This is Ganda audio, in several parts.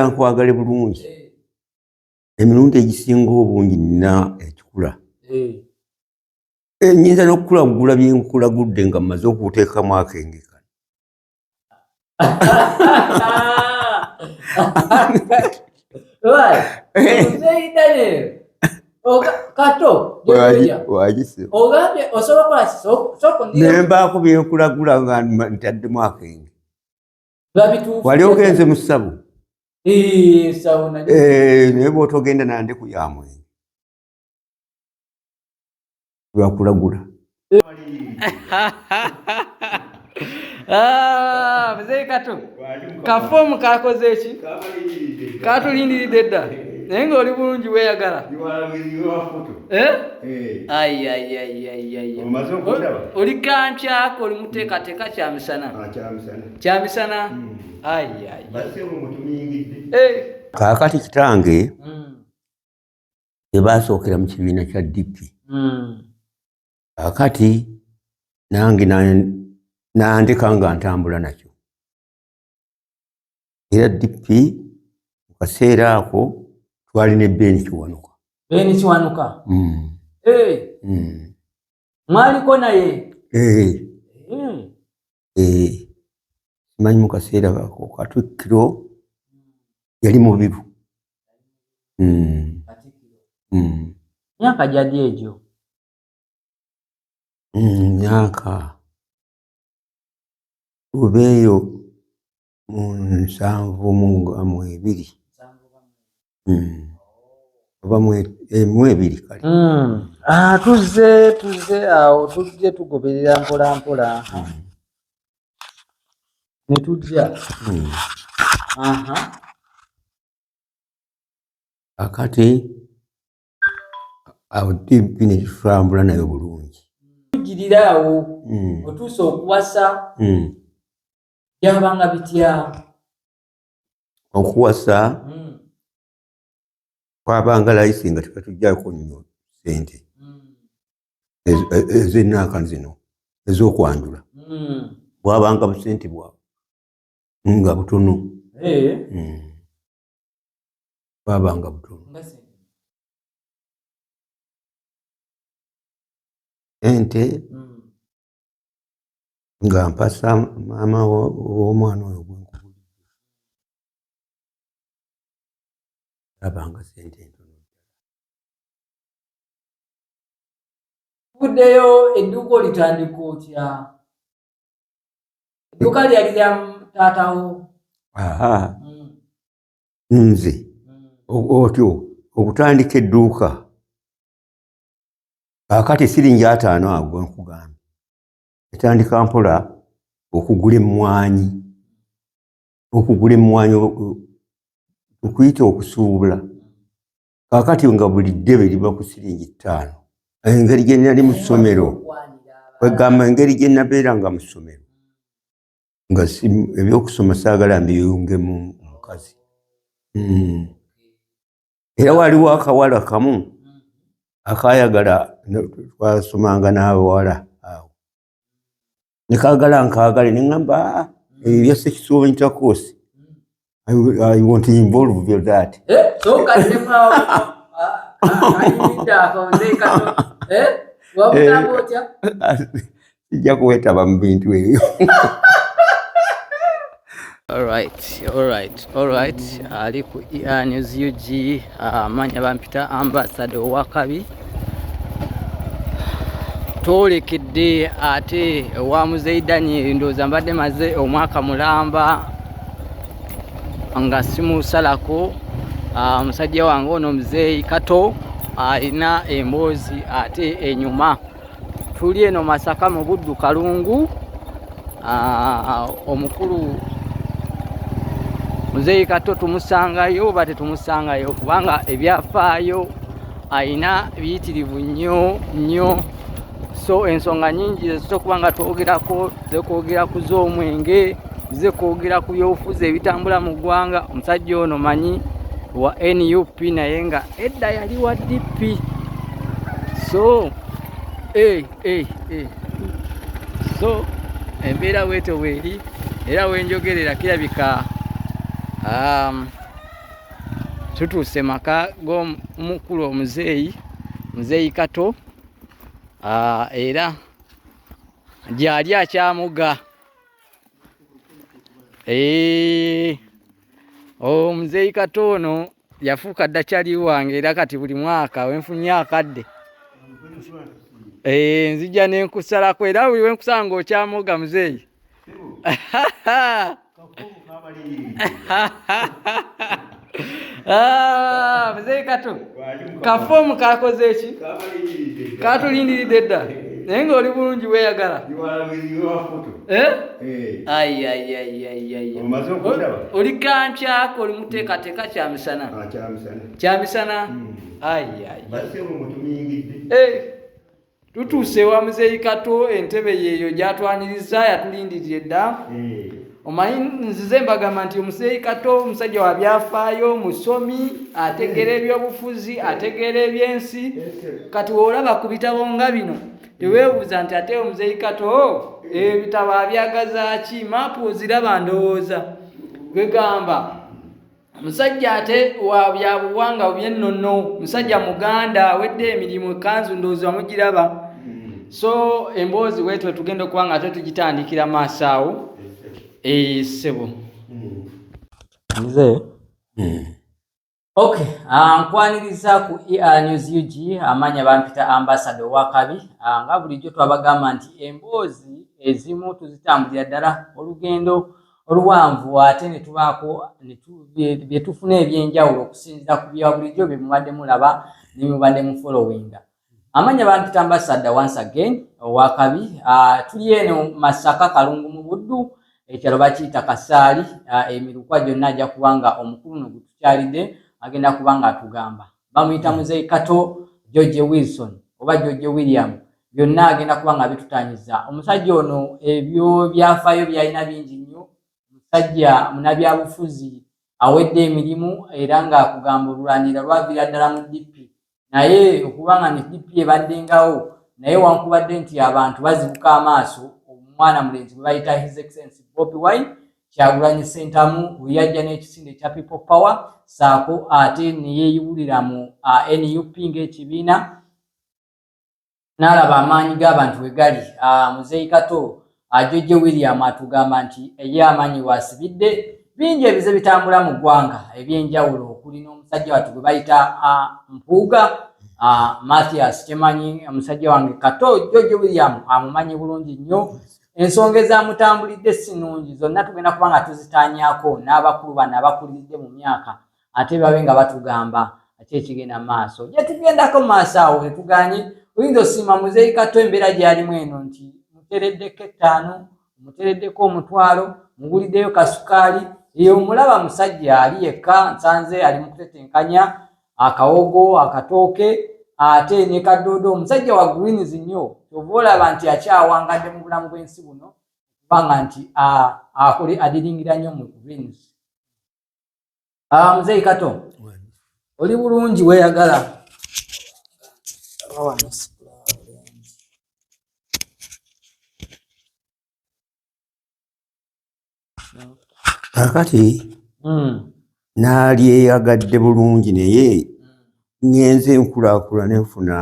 kankwagale bulungi emirundi egisinga obungi nina ekikula nyinza n'okukulagula byenkulagudde nga mmaze okuteekamu akenge kano nembaako byenkulagula nga ntaddemu akenge wali ogenze mu ssabu eh, naye bwotogenda nande ku ya mwenge lwakulagula ah, mzee kato kafomu kakoze eki katulindiridde dda naye nga oli bulungi weyagala eh? eh. oli kankyako oli muteekateeka kyamisana ah, kyamisana kaakati kitange ebasookera hmm. mu kibiina kya dipi kaakati hmm. nange nandeka nga ntambula nakyo era dipi mu kaseera ako twali ne beeni kiwanuka beeni kiwanuka hmm. mwaliko naye eh. eh, simanyi mu kaseera ako katikkiro yali mubiru hmm. Hmm. myaka gyadi egyo hmm, myaka oba eyo mu nsanvu mu ebiri hmm. oba mu eh, ebiri kale hmm. ah, tuzze tuzze awo tujje tugoberera mpola mpola hmm. ne tujja akati awo bino tutambula nayo bulungi tugirira awo otuusa okuwasa byabanga bitya okuwasa hmm. kwabanga layisi nga tebatujjako nnyo sente ezenaaka zino ezokwanjula hmm. bwabanga busente bwa nga butono eh. hmm. bwabanga butono ente hmm. nga mpasa maama w'omwana oyo gwenkubulirabanga sente entono kuddeyo edduuka olitandika otya edduuka lyali lya taatawo mm. nze mm. otyo okutandika edduuka kakati siringi ataano ago nkugambye etandika mpola okugula emmwanyi okugula emmwanyi okuyita okusuubula kakati nga buli ddebe liba ku siringi ttaano engeri gye nali mu ssomero kwegamba engeri gye nabeera nga mu ssomero nga ebyokusoma saagala mbiyunge mu mukazi hmm. era waliwo akawala kamu akayagala twasomanga n'abawala awo nekagala nkagale neŋamba ah, ebyo eh, sekisuwa intercourse I want to involve you that. Eh, so can you power? Ah, ah, I need that. Eh, what would I go to? sijja kuwetaba mu bintu ebyo Alright, alright, alright. Ali ku ER News UG amanya ah, bampita ambassador owakabi twolekedde ate wa muzeyi Daniel ndowooza mbadde maze omwaka mulamba nga simusalako ah, musajja wange ono muzeyi Kato alina emboozi ate enyuma tuli eno Masaka mu Buddu Kalungu, ah, omukulu muzeeyi Kato tumusangayo oba tetumusangayo kubanga ebyafaayo alina biyitirivu nnyo nnyo so ensonga nyingi zezisa okuba nga twogerako zekwogera ku z'omwenge zekwogera ku byobufuzi ebitambula mu ggwanga omusajja ono manyi wa nup naye nga edda yali wa dp so Hey, hey, hey. So embeera weeto weeri era wenjogerera kirabika um, tutuuse maka g'omukulu omuzeeyi muzeeyi kato uh, era gyali akyamuga hey. Eh. omuzeeyi oh, kato ono yafuuka dda kyali wange era kati buli mwaka wenfunye akadde eh, nzija nenkusalako era buli wenkusala nga okyamoga muzeeyi ah, muzeeyi kato kafoomu kakoze eki katulindiridde dda naye nga oli bulungi weyagala eh? eh. oli kankyako oli muteekateeka kyamisana ah, kyamisana hmm. tutuuse ewa muzeeyi kato entebe yeeyo gyatwaniriza yatulindirire dda eh. omanyi nzize mbagamba nti omuzeeyi kato omusajja wa byafaayo musomi ategeera eh. ebyobufuzi eh. ategeera ebyensi kati woolaba ku bitabo nga bino teweebuuza nti ate omuzeeyi kato ebitabo abyagazaaki maapu oziraba ndowooza gwegamba musajja ate wa byabuwanga byennono musajja muganda awedde emirimu ekanzu ndowooza mugiraba hmm. so emboozi wetwe tugenda okuba nga ate tugitandikira maaso awo esebo hmm. nze hmm. ok ah, nkwaniriza ku er news ug amaanya bampita ambasada owakabi ah, nga bulijjo twabagamba nti emboozi ezimu tuzitambulira ddala olugendo oluwanvu ate ne tubaako bye tufuna eby'enjawulo okusinziira ku bya bulijjo bye mubadde mulaba ne mubadde mu followinga amanya bampita ambasadda once again owakabi ah, tuli eno masaka kalungu mu buddu ekyalo bakiyita kasaali ah, emirukwa gyonna ajja kuba nga omukulu no gutukyalidde agenda kuba nga atugamba bamuyita hmm. muzeyi kato george wilson oba george william byonna agenda kuba nga abitutanyiza omusajja ono ebyo byafaayo byalina bingi nnyo omusajja munabyabufuzi awedde emirimu era nga kugamba olulwanira lwaviira ddala mu dp naye okuba nga ne dp ebaddengawo naye wankubadde nti abantu bazibuka amaaso omwana mulenzi gwe bayita his excellence bobi wine kyagulanyi sentamu weyajja n'ekisinde ekya people power saako ate neyeyiwulira mu uh, nup ng'ekibiina n'alaba amaanyi g'abantu we gali uh, muzeeyi kato ajojje uh, william atugamba nti eye amaanyi waasibidde bingi ebize bitambula mu ggwanga eby'enjawulo okuli n'omusajja watu gwe bayita uh, mpuuga uh, mathias kyemanyi omusajja wange kato jojje william amumanyi bulungi nnyo ensonga ezamutambulidde si nnungi zonna tugenda kuba nga tuzitaanyako n'abakulu bano abakuliridde mu myaka ate babe nga batugamba ate ekigenda maaso gyetugendako maaso awo etuganye oyinza osiima muzeeyi kato embeera gyalimu eno nti mutereddeko ettaano mutereddeko omutwalo muguliddeyo kasukaali eyo omulaba musajja ali yekka nsanze ali mu kutetenkanya akawogo akatooke ate ne kadoodo omusajja wa greens nnyo kyova olaba nti akyawangadde mu bulamu bw'ensi buno kubanga nti akole adiringira nnyo mu greens ah, muzeeyi kato oli bulungi weeyagala kakati hmm. naalyeyagadde bulungi naye ngenze enkulaakula nenfuna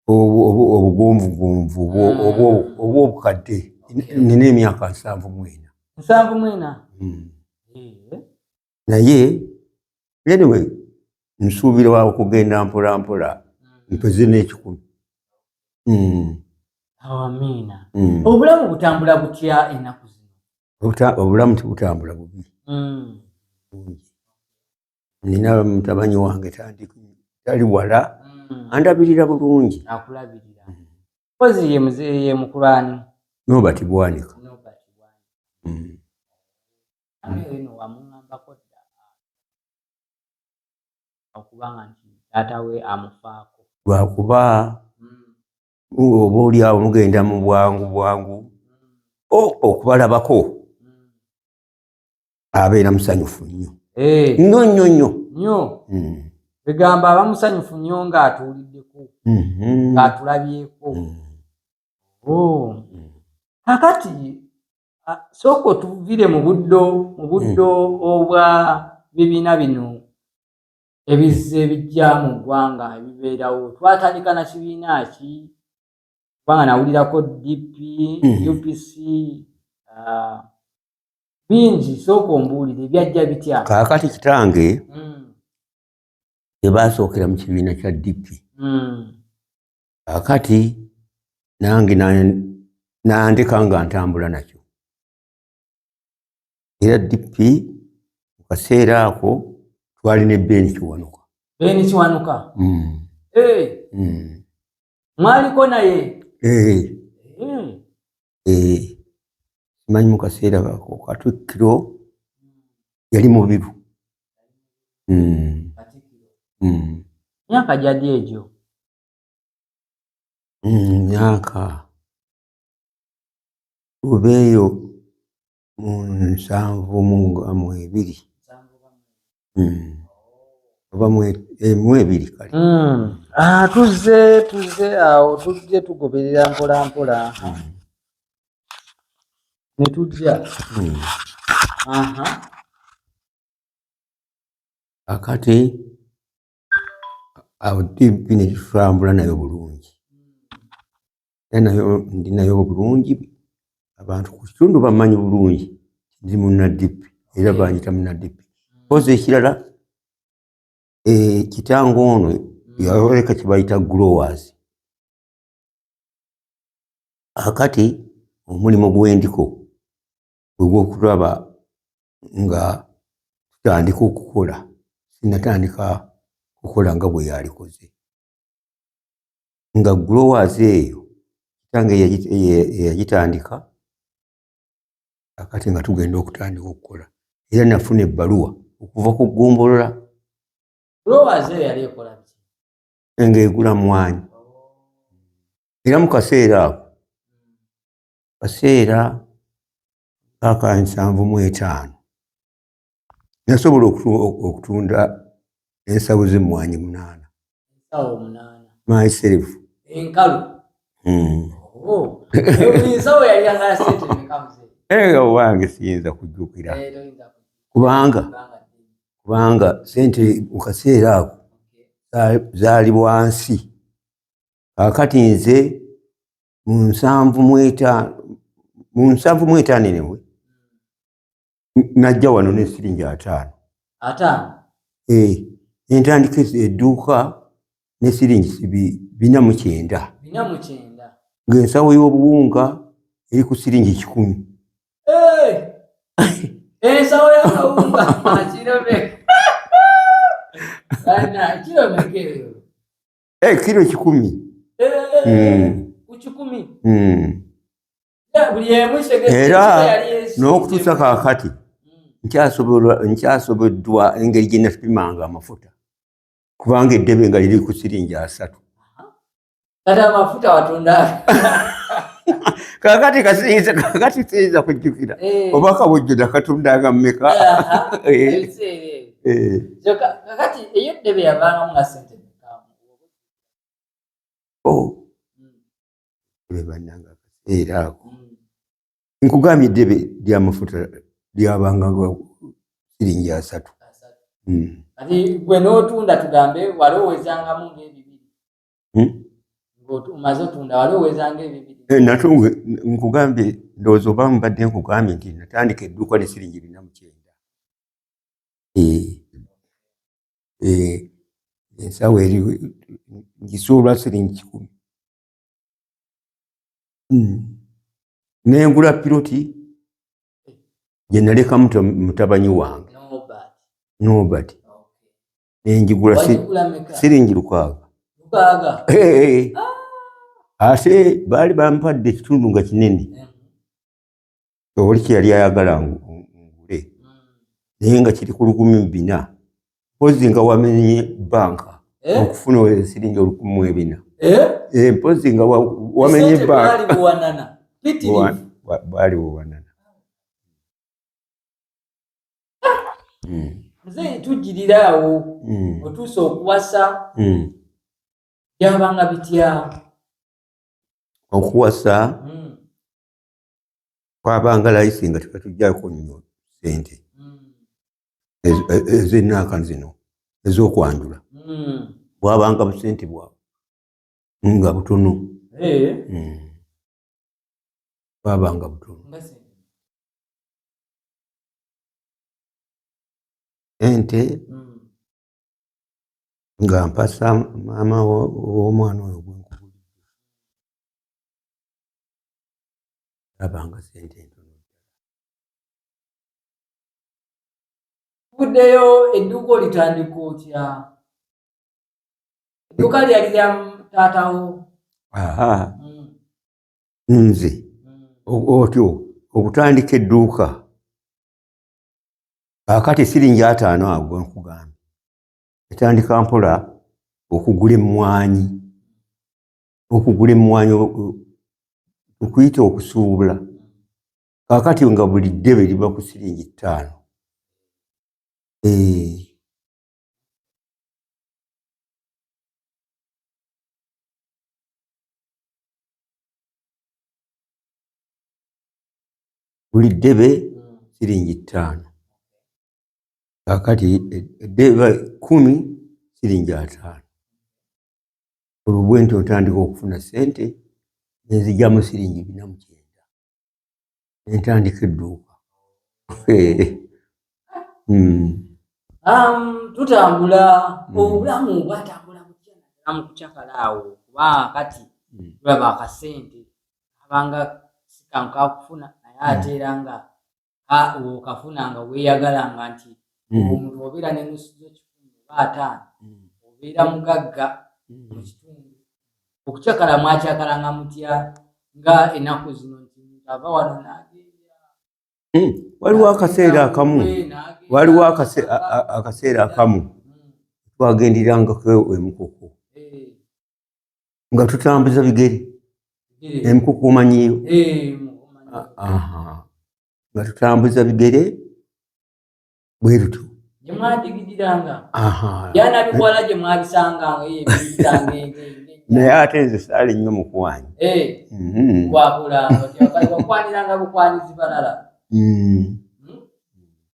obugonvugonvu hmm. oba obukadde nina emyaka nsanvu mwena nsanvu mwena hmm. eh. naye anyway nsuubira wa okugenda mpola mpola mpeze n'ekikumi hmm. awamiina hmm. obulamu butambula butya ennaku zino obulamu tibutambula bubi hmm. nina mutabanyi wange tali wala andabirira bulungi akulabirira kozi ye mukulani nobati bwanika lwakuba oba olyawo mugenda mu bwangu bwangu okubalabako abeera musanyufu nnyo eh. nnyo nnyo nnyo nnyo hmm. egamba aba musanyufu nnyo ng'atuuliddeko mm-hmm. ng'atulabyeko mm. oh. kakati ah, sooka otuvire mu buddo mu buddo hmm. obwa bibiina bino ebizze ebijja mu ggwanga ebibeerawo twatandika na kibiina ki kubanga nawulirako dp hmm. upc ah, bingi sooka ombuulire byajja bitya kaakati kitange hmm. ebasookera mu kibiina kya dp akati nange nandeka nga ntambula nakyo era dp mu kaseera ako twali ne ben kiwanuka ben kiwanuka mm. eh. mm. mwaliko naye eh. mm. eh, simanyi mu kaseera ako katikkiro yali mubiru hmm. Hmm. myaka gyadi egyo hmm, myaka oba eyo mu nsanvu mu ebiri hmm. oba mu eh, ebiri kale hmm. ah, tuzze tuzze awo tujje tugoberera mpola mpola hmm. ne tujja akati awo tipi nekitulambula nayo bulungi era nayo ndi nayo bulungi abantu ku kitundu bamanyi bulungi ndi munadipi era banyita munadipi kozi ekirala eh, kitanga ono yaleka kibayita growers akati omulimu gwendiko gwegwokulaba nga tutandika okukola sinatandika kukola nga bwe yalikoze nga growers eyo kitange yagitandika akati nga tugenda okutandika okukola era nafuna ebbaluwa okuva ku ggombolola ng'egula mwanyi era mu kaseera ako kaseera aka nsanvu mu etaano nasobola okutunda ensawo zemmwanyi munaana myself enkalu hmm. oh. eh, owange siyinza kujjukira eh, kubanga kubanga sente mu kaseera ako zaali bwansi kakati nze mu nsanvu mu etaano enewe najja wano nesiringi ataano eh, entandika edduuka nesiringi bina mu kyenda ng'ensawo y'obuwunga eri ku siringi kikumi ensawo y'akawunga akirobeka eh, kilo kikumi era n'okutuusa kakati nkyasoboddwa engeri gye napimanga amafuta kubanga eddebe nga liri ku siringi asatu kakati kasiinza kakati siinza kujjukira eh. oba kabujjuda katundaga mumeka eh. eh. bebananga oh. akaseera ako nkugambye eddebe lyamafuta lyabanga siringi asatu hmm. kati gwe n'otunda tugambe wali owezangamu ngaebibiri hmm? omaze otunda wali owezanga ebibiri eh, nate nkugambye ndowooza oba mubadde nkugambye nti natandika edduuka ne siringi bina mukyenda eh. ensawo eri ngisuulwa siringi kikumi hmm. nengula piloti gyenaleka mutabanyi wange nobert nenjigula siringi lukaaga ate baali bampadde ekitundu nga kinene oli kyeyali ayagala ngule naye nga kiri ku lukumi mu bina mpozi nga wamenye banka eh? okufuna esiringi olukumi mu ebina eh? Eh, mpozi nga wamenye banka bwali buwanana nze hmm. tujirira awo hmm. otuusa okuwasa hmm. byabanga bitya okuwasa kwabanga layisi nga tebatujjako nnyo sente ezenaaka zino ezokwanjula hmm. bwabanga busente bwabwe nga butono eh. hmm. bwabanga butono ente hmm. nga mpasa maama w'omwana oyo labanga sente entono kuddeyo edduuka olitandika otya edduuka lyali lya taatawo hmm. nze hmm. otyo okutandika edduuka akati siringi ataano ago nkugambye etandika mpola okugula emmwanyi okugula emmwanyi okuyita okusuubula kakati nga buli ddebe liba ku siringi ttaano eh. buli ddebe siringi ttaano kakati eddebe kumi siringi ataano olubwe nti otandika okufuna sente nenzijamu siringi bina mukyenda nentandika edduuka hmm. um, tutambula hmm. obulamu bwatambula mukucakala awo kuba kati hmm. tulaba akasente abanga sikanka kufuna naye ate era nga okafuna nga weeyagalanga nti hmm. omuntu obeera ne nusu z'ekikumi oba ataano hmm. obeera mugagga hmm. mu kitundu okucakala mwakyakalanga mutya nga ennaku zino nti muntu ava wano nagenda waliwo akaseera akamu waliwo akaseera akamu twagenderangako emukuku eh. nga tutambuza bigere emukukumanyiyo nga tutambuza bigere bwe lutyo naye ate nze saali nnyo mukwanyi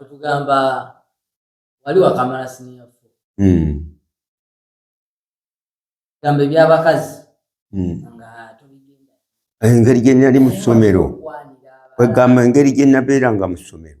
otugamba wali wakamala siniya fo gamba ebyabakazi engeri gye nali mu ssomero kwegamba engeri gye nabeeranga mu ssomero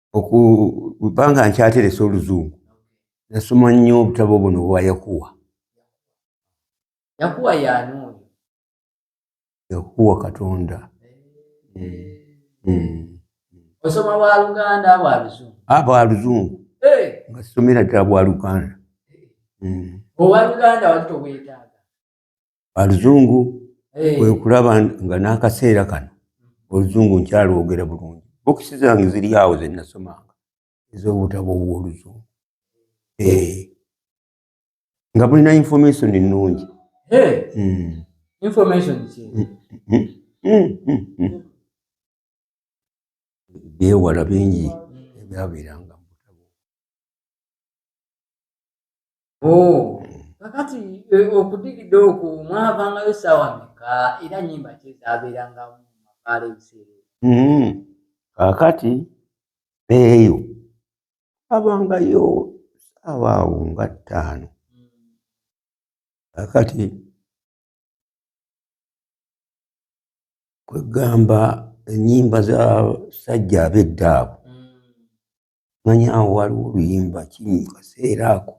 okubanga nkyateresa oluzungu nasoma nnyo obutabo buno obwa yakuwa yakuwa yani oyo yakuwa katonda osoma bwa luganda bwa luzungu a ah, bwa luzungu nga somera ddala bwa luganda owa luganda wali tobwetaaga aluzungu kwekulaba nga n'akaseera kano oluzungu nkyalwogera bulungi bokisi zange ziri awo zenasomanga ez'obutabo obw'oluzungu nga bulina information ennungi byewala bingi ebyabeeranga kakati e, okudigida okwo mwavangayo saawa meka era nyimba kyezabeeranga mu makaala ebiseera mm-hmm. kakati eyo abangayo saawa awo nga ttaano mm. kakati kwegamba enyimba za sajja abedda abo mm. manya awo waliwo oluyimba kiri mu kaseera ako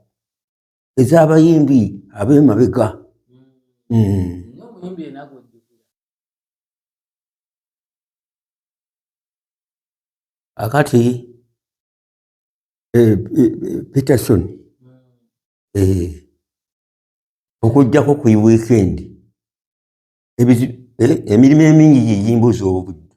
ez'abayimbi ab'emabega akati eh, eh, peterson eh, okujjako ku weekend emirimu emingi gigimbuza obudde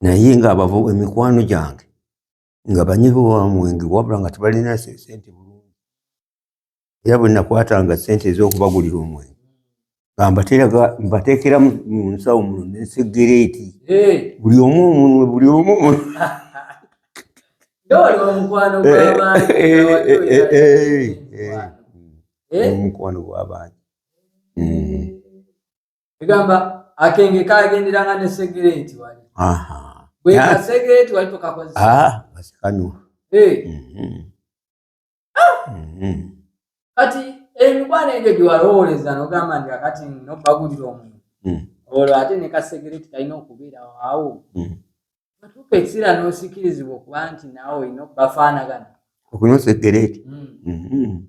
naye nga abavo emikwano gyange nga banyivu bamwenge wabula nga tebalina sente bulungi era bwe nakwatanga sente ez'okubagulira omwenge nga mbateraga mbateekera mu nsawo muno nesegereeti buli omu omunwe buli omu omunwe omukwano gw'abantu egamba akenge kagenderanga ne segereti wali bwekasegereti wali tokakozesakanywa ah, eh. mm-hmm. ah! mm-hmm. kati emikwano egyo gyewalowooleza nogamba nti akati nobagulira omuntu mm. olwo ate ne kasegereti kalina okubeera awo mm. atuuka ekiseera n'osikirizibwa okuba nti naawe olina okubafaanagana okunosegereti mm. mm-hmm.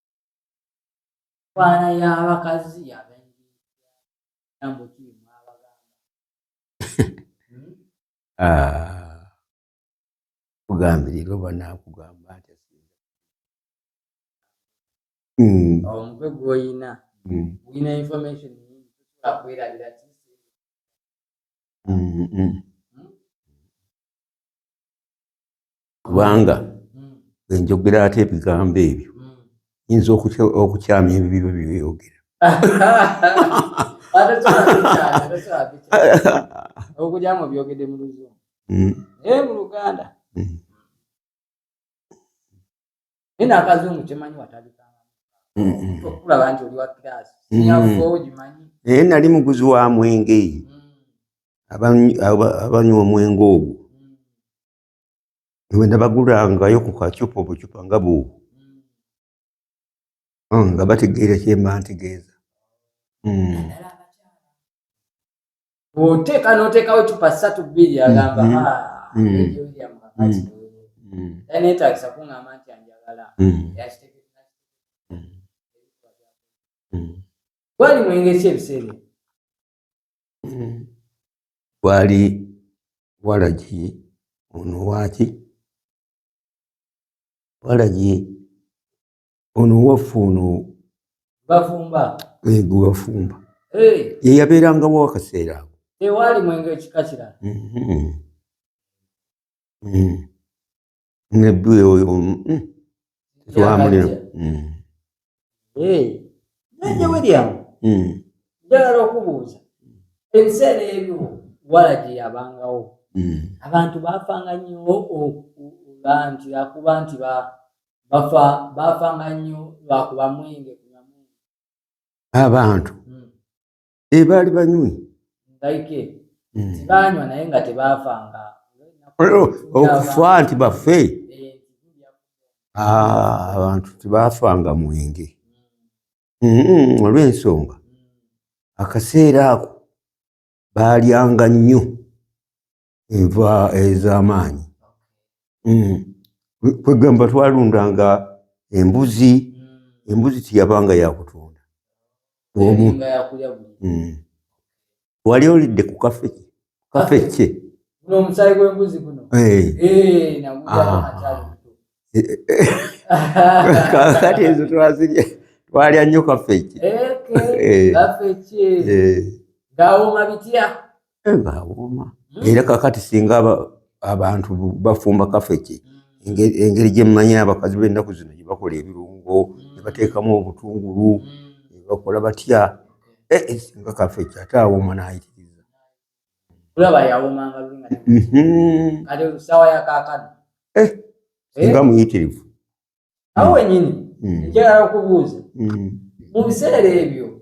Bwana ya bakazi ya bengi. Jambo ki mwabagamba. Hmm? Ah. Kugambirira oba nakugamba nti asinza. Mm. Omutwe gw'oyina. Mm. Oyina information nyingi tusobola kwerabira ti. Mm -mm. kubanga enjogera ate ebigambo ebyo yinza okukyama ebibiba byeyogera okugyamu byogede mu luzungu hmm. naye mu luganda hmm. naye nakazungu kyemanyi watalikangaokulaba hmm, nti oli wa kirasi sinyaogimanyi naye nali muguzi wa mwenge abanywa omwenge ogwo ewe nabagulangayo ku kacupa obucupa nga bu hmm, nga bategeera kyemba ntegeeza hmm. oteeka noteekawo ecupa satu bbiri agamba hmm. ah, netagisa kuŋamba nti anjagala gwali mwengesi ebiseera mm. wali walagi ono waki walagi ono waffe ono bafumba ego bafumba yeyabeerangawo akaseera ako tewaali mwenge ekika kirala mm-hmm. mm. ne bwe oyo twamulira nanye william njagala okubuuza ebiseera ebyo wala gye yabangawo hmm. abantu baafanga nnyo okuba nti akuba nti bafa baafanga nnyo lwakuba mwenge kunywa mwenge abantu hmm. ebaali eh, banywi okufa nti bafe ah, abantu tebafanga mwenge mm-hmm, olw'ensonga akaseera ako baalyanga nnyo enva ez'amaanyi hmm. kwegamba twalundanga embuzi hmm. embuzi tiyabanga yakutunda omu hmm. wali olidde ku kafe kafe kye omusaayi gw'embuzi guno eh. eh, kakati ah. eh, ezo twazirya twalya nnyo kafe kye ngawooma bitya era kakati singa abantu bafumba kafeki engeri gyemmanyi abakazi bennaku zino gyebakola ebirungo nebateekamu obutungulu nebakola batya eh, eh, singa kafeki ate awoma nayitiriza mhm. eh, singa muyitirivu awo wenyini nkyala mm. okubuuza mm. mu biseera ebyo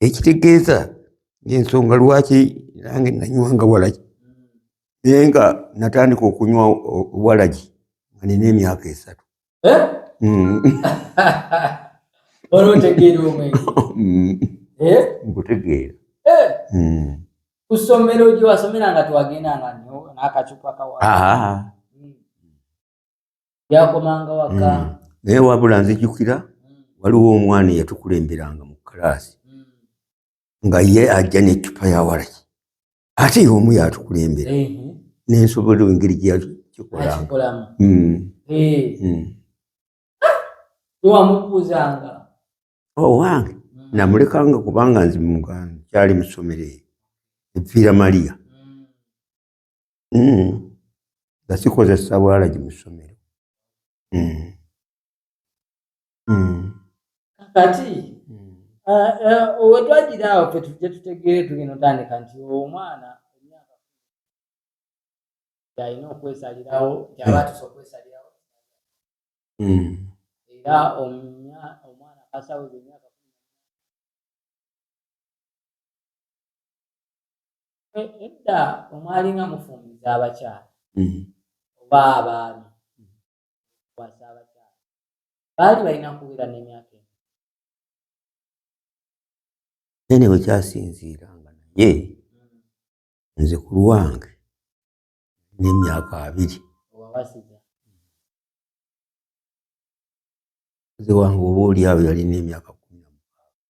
ekitegeeza ensonga lwaki nange nanywanga walagi naye nga natandika okunywa walagi nga nina emyaka esatu eh? mm. eh? nkutegeera eh? mm. kusomero gyewasomeranga twagendanga nakacupa kawa yakomanga waka mm. naye wabula nzijukira waliwo omwana eyatukulemberanga mu kalaasi nga ye ajja n'eccupa ya waraki ate ye omu yatukulembera nensobola engeri gyeyakikolamu mm. eh. mm. wamubuuzanga owange oh, mm. namulekanga kubanga nzi muganda kyali musomero eyo eviira maria hmm. nga sikozesa bwalagi mu ssomero hmm. Hmm. kati eh, eh, wetwagira awo fe tujja tutegeere tugenda otandika nti omwana emyaka yalina okwesalirawo yaba tusa okwesalirawo era omwana kasawo edda omwali nga mufumbiza abakyala mm-hmm. oba abaami kwasa abakyala baali balina kuwera n'emyaka eno nene wekyasinziira nga naye mm-hmm. nze ku lwange n'emyaka abiri nze wange oba oli awo yalina emyaka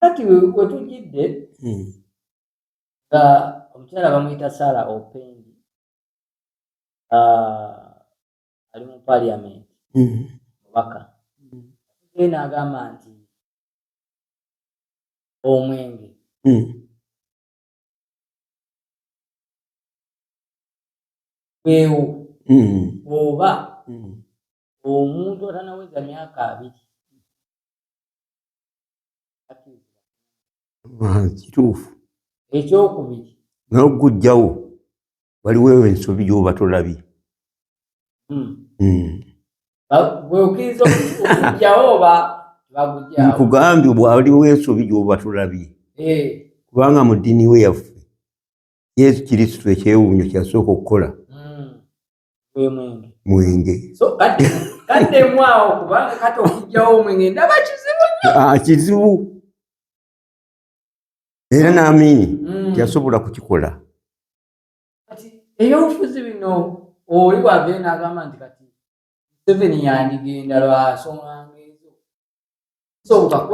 kati wetujidde hmm. nga omukyala bamuyita sara opendi ah, ali mu paliament hmm. mubaka hmm. naagamba nti omwenge wewo oba omuntu atanaweza myaka abiri kituufu ekyokubiri naye okugujjawo waliwo ensobi gyoba tolabye hmm. hmm. nkugambye bwaliwo ensobi gyoba tolabye eh. kubanga mu ddini we yaffe yesu kiristu ekyewuunyo kyasooka okukola mwenge ah, kizibu era naamini mm. yasobola kukikola ebyobufuzi bino oli wava enagamba nti kati museveni yandigenda lwasonga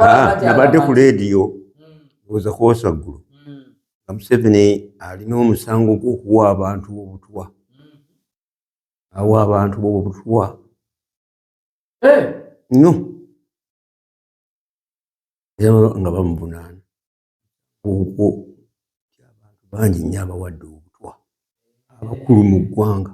Ah, nabadde ku leediyo oza hmm. kwosa ggulu hmm. nga museveni alina omusango gwokuwa abantu bobutwa hmm. awa abantu bobutwa eh! no nga bamuvunaana okwo abantu bangi nnyo abawadde obutwa abakulu mu ggwanga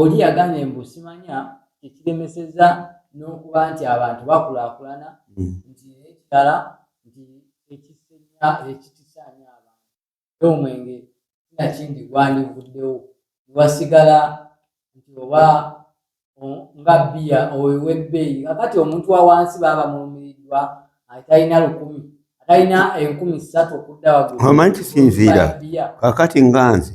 oli yagambye mbu simanya ekiremeseza n'okuba nti abantu bakulaakulana hmm. nti ekirala nti ekisenya ekikisaanya abantu e omwenge sinakindi gwandivuddewo newasigala nti oba nga bbiya oyo webbeeyi kakati omuntu wa wansi baba mulumiriddwa atalina lukumi atalina enkumi ssatu okudda waguomanyi kisinziira kakati nga nze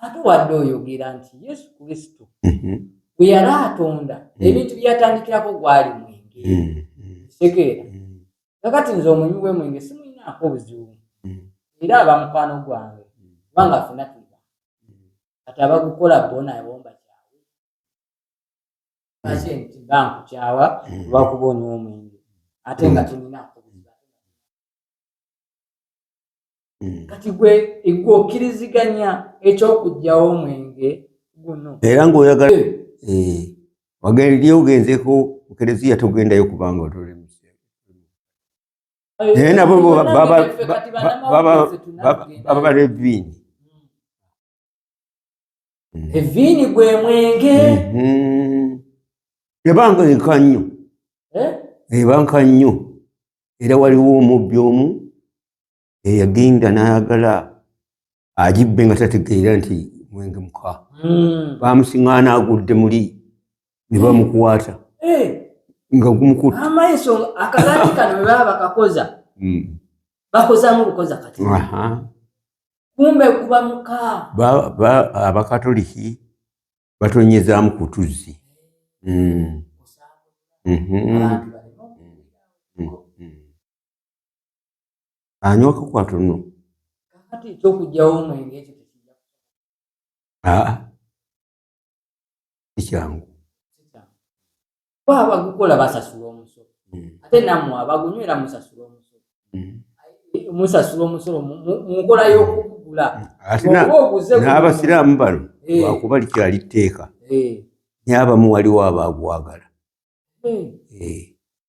ate wadde oyogera nti yesu kristo mhm. bwe yali atonda mm. ebintu byeyatandikirako gwali mwenge kitegeera mm. mm. kakati nze omunywi wemwenge simulinaako obuzibu era aba mukwano gwange kubanga fena tuba kati abagukola bona ebomba kyawe ate nti bankukyawa lwakuba onywa omwenge ate nga tulinaako hmm. kati gwe gwe okkiriziganya eky'okugyawo omwenge guno era ng'oyagala eh. Eh. wagenda ogenzeeko mu kereziya togendayo kubanga otole naye nabo baba bareviini Mm-hmm. eviini gwe mwenge mm-hmm. ebanga eka nnyo eh? ebanka nnyo era waliwo omubbi omu eyagenda n'ayagala agibbe nga tategeera nti mwenge muka hmm. bamusiŋaana agudde muli ne bamukwata eh. nga gumukutte amaiso akalaati kano baba bakakoza hmm. bakozamu bukoza kati kumbe kuba muka abakatoliki batonyezamu ku tuzzi hmm. mhm. anywa kakwata nno aa sikyangu abagukola basasula omusolo hmm. ate namwe abagunywera musasula omusolo hmm. musasula omusolo munkola y'okugula hmm. n'abasiraamu bano eh. wakuba likyali tteeka eh. nyabamu waliwo abaagwagala eh.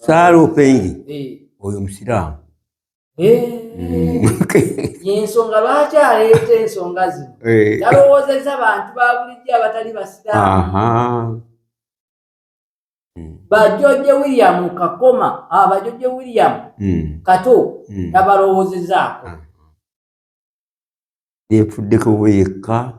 saalu pengi eh. oyo musiraamu yensonga lwaki aleeta ensonga zino yalowoozezza eh. bantu babulijjo abatali basiraamu bajoje william kakoma abajoje ah, william hmm. kato hmm. tabalowozezaako ah. yefuddeko bweyekka